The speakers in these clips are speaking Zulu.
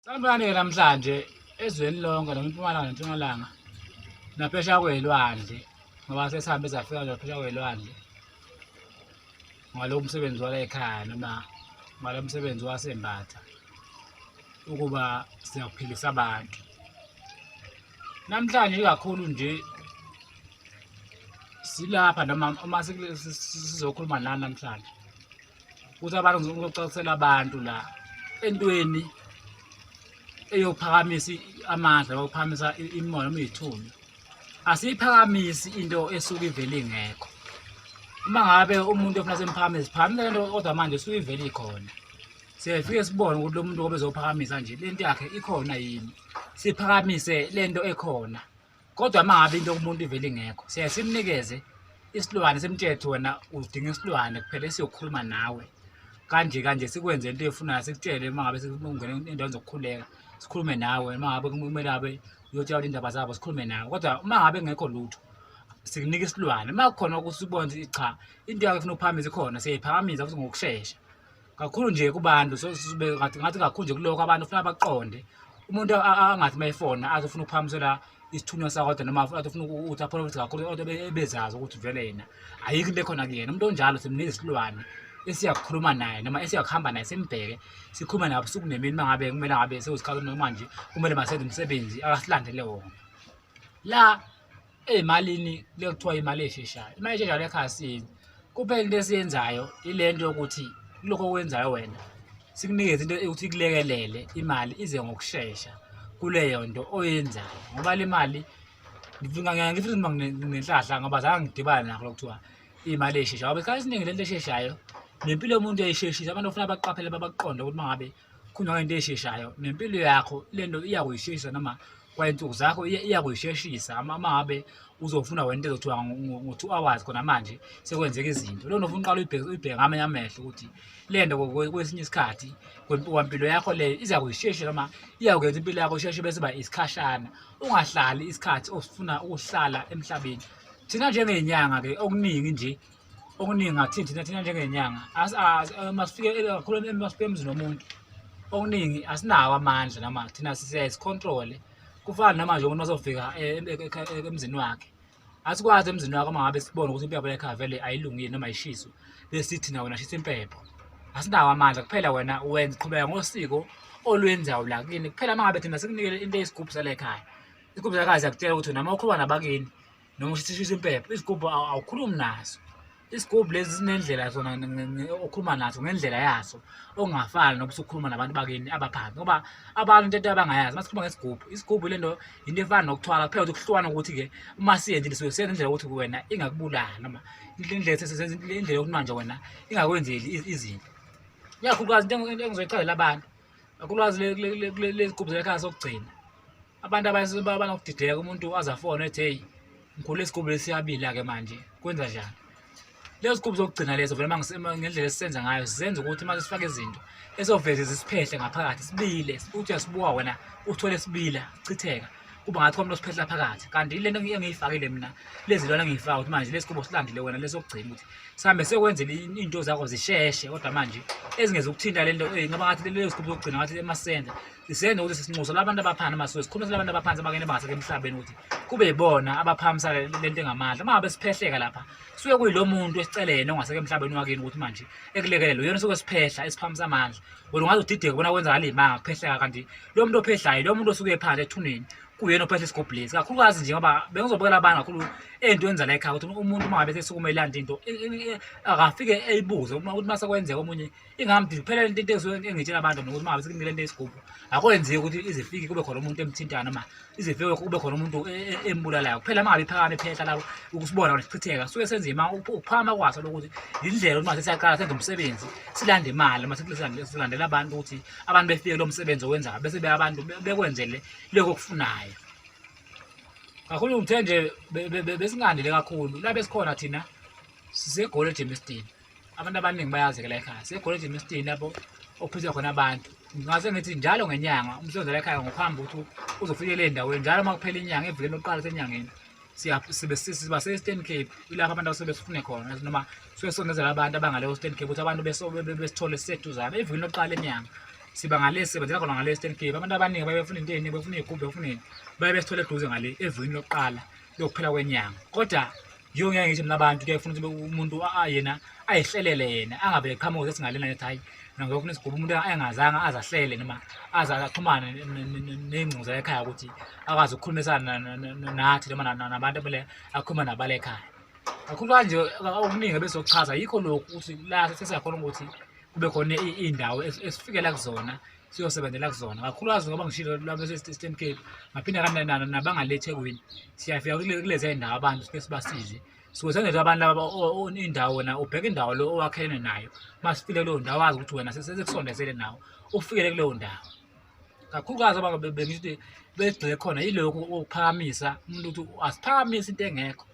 Sanibonani-ke namhlanje ezweni lonke noma impumalanga nentshonalanga naphesha kwey'lwandle ngoba sesihambe safika nje naphesha kwey'lwandle ngalowo msebenzi wala ekhaya noma ngalo msebenzi wasembatha ukuba siyakuphilisa abantu namhlanje ikakhulu nje silapha noma uma sizokhuluma nani namhlanje ukuthi abantu ngizocacisela abantu la entweni eyophakamisa amandla okuphakamisa imimoya noma izithunywa asiyiphakamisi into esuke ivele ingekho uma ngabe umuntu ofuna semphakamisa phamile lento kodwa manje esuke ivele ikhona siyafike sibone ukuthi lo muntu obezophakamisa nje lento yakhe ikhona yini siphakamise lento ekhona kodwa uma ngabe into kumuntu ivele ingekho siyaye simnikeze isilwane simthethe wena udinga isilwane kuphela esiyokhuluma nawe kanje kanje sikwenze into efunayo sikutshele uma ngabe sikungena endaweni zokukhuleka sikhulume nawe uma ngabe kumele abe uyotshelwa indaba zabo sikhulume nawe kodwa uma ngabe ngekho lutho sikunika isilwane uma kukhona ukuthi ubone cha into yakho ifuna ukuphakamisa ikhona siyayiphakamisa futhi ngokushesha kakhulu nje kubantu ngathi kakhulu nje kulokho abantu funa baqonde umuntu angathi uma efona azofuna ukuphakamisela isithunywa sakodwa noma atofuna ukuthi apholofithi kakhulu kodwa ebezazi ukuthi vele yena ayikho into ekhona kuyena umuntu onjalo simnika isilwane esiyakukhuluma naye noma esiyakuhamba naye simbheke sikhulume naye busuku nemini uma ngabe kumele ngabe sewusikhathi noma nje kumele masenze umsebenzi akasilandele wona la Eyimalini le kuthiwa imali esheshayo. Imali esheshayo le ekhaya siyenzi. Kuphela into esiyenzayo ile nto yokuthi kulokho okwenzayo wena sikunikeze into yokuthi ikulekelele imali ize ngokushesha kuleyo nto oyenzayo ngoba le mali ngifisa noma nginenhlahla ngoba zange ngidibane nakho lokuthiwa imali esheshayo ngoba isikhathi esiningi lento esheshayo nempilo yomuntu yayisheshisa abantu ofuna baqaphele babaqonde ukuthi mangabe khona into esheshayo nempilo yakho lento iyakuyisheshisa noma kwainsuku zakho iyakuyisheshisa amabe uzofuna wena into ezothiwa ngo-two hours khona manje sekwenzeka izinto lona ufuna uqala uyibheke ngamanye amehlo ukuthi le nto kwesinye isikhathi kwampilo yakho leyo iza kuyishesha noma iyakwenza impilo yakho isheshe bese ba isikhashana ungahlali isikhathi osifuna ukuhlala emhlabeni thina njengey'nyanga-ke okuningi nje okuningi ngathi thina thina njengenyanga eh, masifike eh, kakhulu masifike emzini womuntu okuningi asinawo amandla noma thina siyayizicontrole kufana namanje umuntu masofika eh, emzini wakhe asikwazi emzini wakho uma ngabe sibone ukuthi impepho yakhe avele ayilungile noma ayishiswe besithi nawe nashisa impepho asinawo amandla kuphela wena wenza qhubeka ngosiko olwenzayo la kini kuphela uma ngabe thina sikunikele into eyisigubhu sale ekhaya isigubhu salekhaya siyakutshela ukuthi noma ukhuluma nabakini noma ushishisha impepho izigubhu awukhulumi naso isigubhu lezi zinendlela zona okhuluma naso ngendlela yaso okungafani noba usukhuluma nabantu bakini abaphansi ngoba abantu into ento abangayazi uma sikhuluma ngesigubhu isigubhu le nto yinto efana nokuthwala kuphela ukuthi kuhlukana ukuthi-ke uma siyenzile suke siyenza indlela yokuthi wena ingakubulali noma indlela yokunwa nje wena ingakwenzeli izinto ikakhulukazi into engizoyichazela abantu kakhulukazi lezi gubhu zelakhaya sokugcina abantu abanokudideka umuntu aze afone ethi heyi ngikhule isigubu lesiyabila-ke manje kwenza njani lezo zigubu zokugcina lezo vele ngendlela esisenza ngayo sizenza ukuthi uma sifake izinto esoveze zisiphehle ngaphakathi sibile uthi uyasibuka wena uthole sibila chitheka kuba ngathi kwamlo siphehla phakathi kanti ile nto engiyifakile mina lezi lona engiyifaka ukuthi manje lesi kubo silandile wena lesokugcina ukuthi sihambe sekwenzela iy'nto zakho zisheshe kodwa manje ezingeza ukuthinta le nto eyi ngaba ngathi leyo sigubu zokugcina ngathi emasenda Isiyeni ukuthi sisinxuso labantu abaphansi amasizwe sikhulumisa labantu abaphansi abakene bangaseke emhlabeni ukuthi kube ibona abaphamisa lento engamandla uma ngabe siphehleka lapha suke kuyilo muntu esicelene ongaseke emhlabeni wakini ukuthi manje ekulekelele uyona suke siphehla esiphamisa amandla wena ungaze udideke bona kwenzakala imanga kuphehleka kanti lo muntu ophehlayo lo muntu osuke ephansi ethuneni kuyena ophehla isigubhu lesi kakhulukazi nje ngoba bengizobukela abantu kakhulu ento yenza la ekhaya ukuthi umuntu uma ngabe sesukume ilanda into akafike eyibuze uma ukuthi uma sekwenzeka omunye ingamdi kuphela lento into esuke engitshela abantu nokuthi mangabe sekumile into yesigubhu akwenzeki ukuthi izifiki kube khona umuntu emthintana noma izifike kube khona umuntu e, e, embulalayo kuphela mangabe iphakame phehla labo ukusibona nesichitheka suke senzima ukuphakama kwaso lokuthi yindlela ukuthi mase siyaqala senze umsebenzi silande imali mase silandela abantu ukuthi abantu befike lo msebenzi owenzayo bese be abantu bekwenzele lokho okufunayo kakhulu ngithe nje besingandile kakhulu la besikhona thina sisegoli ejemisdini abantu abaningi bayazi ke la ekhaya sekolejini lesitini lapho okuphethwa khona abantu ngase ngithi njalo ngenyanga umsebenzi la ekhaya ngokuhamba ukuthi uzofikela endaweni njalo uma kuphela inyanga evikeni lokuqala senyangeni siba se-eastern cape ilapho abantu abasuke besifune khona noma suke sonezela abantu abangaleyo eastern cape ukuthi abantu besithole siseduzane evikeni lokuqala enyanga siba ngale sisebenzela khona ngale eastern cape abantu abaningi baye befuna into eningi befuna iy'gubhu befuneni baye besithole eduze ngale evikeni lokuqala lokuphela kwenyanga kodwa yiyo ngeke ngisho mina abantu kuyaye funa ukuthi umuntu yena ayihlelele yena angabe eqhamuka ukuthi singalena ngithi hayi nangokho nesigubha umuntu engazanga azahlele noma aze axhumane nengcuza ekhaya ukuthi akwazi ukukhulumisana nathi noma nabantu abele akhuluma nabale ekhaya kakhulu kanje okuningi ebesokuchaza yikho lokhu ukuthi la sesiyakhona ukuthi kube khona iy'ndawo esifikela kuzona siyosebenzela kuzona kakhulukazi ngoba ngishilo lwabeseeastern cape ngaphinde kanenana nabangale ethekwini siyafika kulezi ndawo abantu sike sibasize siwesenzela abantu laba indawo na ubheke indawo lo owakhelene nayo uma sifile kuleyo ndawo wazi ukuthi wena sesekusondezele nawo ufikele kuleyo ndawo kakhulukazi aba bengithi begxile khona yilokhu okuphakamisa umuntu ukuthi asiphakamise into engekho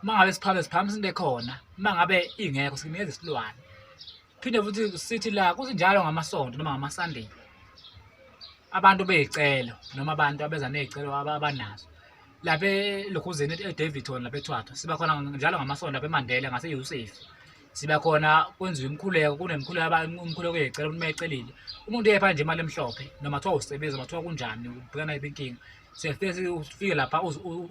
uma ngabe siphakamisa siphakamisa into ekhona uma ngabe ingekho sinikeza isilwane Phinde futhi sithi la kuthi njalo ngamasonto noma ngamaSunday abantu beyicelo noma abantu abeza nezicelo abanazo lapha elokhuzeni eDavidton lapha eThwatha siba khona njalo ngamasonto lapha eMandela ngaseYusuf siba khona kwenziwa imikhuleko kunemikhuleko abantu umkhuleko yecela umuntu mayecelile umuntu uyepha nje imali emhlophe noma kuthiwa usebenza noma kuthiwa kunjani ubhekana yiphi inkinga siyafike ufike lapha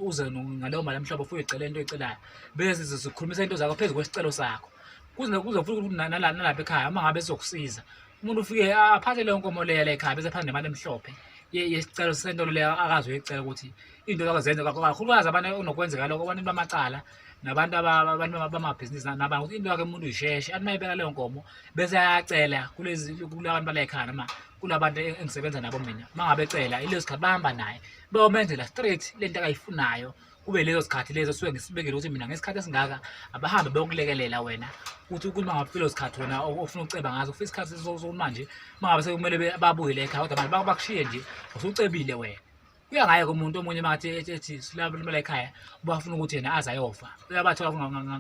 uze ngaleyo mali emhlophe ufike ucela into oyicelayo bese sikhulumisa into zakho phezu kwesicelo sakho kuze kuze futhi ukuthi nala nalapha ekhaya uma ngabe sizokusiza umuntu ufike aphathe leyo nkomo leya la ekhaya bese phathe nemali emhlophe yesicelo sentolo leya akazi uyicela ukuthi into zakho zenze kakhulukazi abantu onokwenzeka lokho abantu bamacala nabantu abantu bamabhizinisi nabanye ukuthi into yakhe umuntu uyisheshe athi mayibeka leyo nkomo bese ayacela kulezi kulabantu bala ekhaya noma kulabantu e-, engisebenza nabo mina uma ngabe ecela ileso sikhathi bahamba naye beyomenzela straight le nto akayifunayo kube lezo sikhathi lezo suke ngisibekile ukuthi mina ngesikhathi esingaka abahambe beyokulekelela wena ukuthi ukuthi mangabe filo sikhathi wena ofuna ukuceba ngazo ufisa isikhathi sokukhuluma nje mangabe sekumele babuyele ekhaya kodwa abantu bakushiye nje usucebile wena kuya ngaye kumuntu omunye makathi ethi silalimela ekhaya ubafuna ukuthi yena aze ayofa uyabathola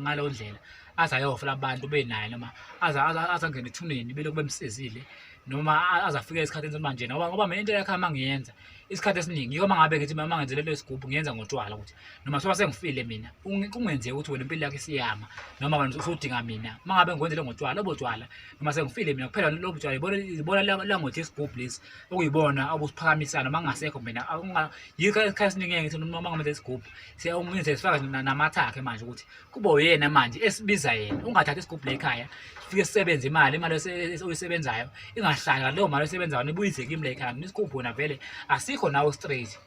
ngaleyo ndlela aze ayofa labantu benaye noma aze azangene ethuneni bele kube msizile noma aze afike esikhathini sokuba njena ngoba ngoba mina into yakhe amangiyenza isikhathi esiningi yoma ngabe ngithi mama ngenze lelo sigubhu ngiyenza ngotshwala ukuthi noma soba sengifile mina kungenzeka ukuthi wena impilo yakho isiyama noma wena usudinga mina uma ngabe ngikwenze lo ngotshwala lobo tshwala noma sengifile mina kuphela lobo tshwala ibona ibona langothi isigubhu lesi okuyibona obusiphakamisana uma ngingasekho mina yikho isikhathi esiningi ngithi noma ngamele isigubhu siyawumenze sifaka namathakhe manje ukuthi kuba uyena manje esibiza yena ungathathi isigubhu lekhaya fike sisebenze imali imali oyisebenzayo ingahlala leyo mali oyisebenzayo nibuyise kimi lekhaya mina isigubhu wena vele asikho nawo straight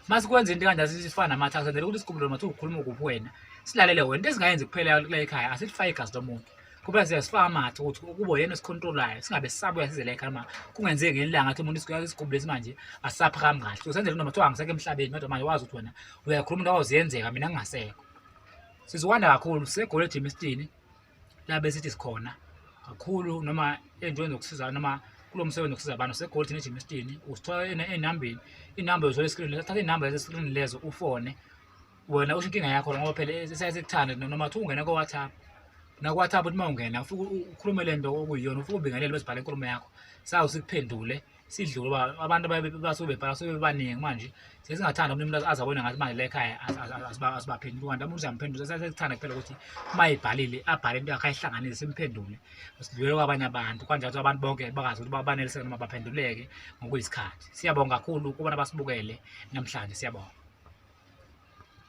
masikwenza into kanje asifana namathaku senzele ukuthi isigubhu lona mathiwa ukhuluma kuphi wena silalele wena into ezingayenzi kuphela lekhaya asilifaki igazi lomuntu kuba siyasifaka amathe ukuthi ukubo yena esikhontrolayo singabe sisabuya sizele ekhaya ma kungenzeki ngelanga athi umuntu isigubhu lesi manje asisaphakambi kahle usenzele noma kuthiwa angisekho emhlabeni kodwa manje wazi ukuthi wena uyakhuluma into awuziyenzeka mina ngingasekho Siziwanda kakhulu segole eJimistini labe sithi sikhona kakhulu noma entweni zokusiza noma kulo msebenzi wokusiza abantu segole thina eJimistini usithola enambeni inamba yozwa eskrini lezo thatha inamba yaseskrini lezo ufone wena usho inkinga yakho ngoba phela siyasikuthanda noma kuthiwa ungena ko-whatsapp naku-whatsapp uthi uma ungena ufike ukhulume le nto okuyiyona ufike ubingelele bezibhale inkulumo yakho sawu sikuphendule sidlule uba abantu basuke bebhala suke bebaningi manje sesingathanda umuntu azabona ngathi manje lekhaya asibaphenduli kanti umuntu uyamphendula sesithanda kuphela ukuthi uma ebhalile abhale into yakhe ayihlanganise simphendule sidlulele kwabanye abantu kwanjalo ukuthi abantu bonke bakazi ukuthi baneliseke noma baphenduleke ngokuyisikhathi siyabonga kakhulu kubona basibukele namhlanje siyabonga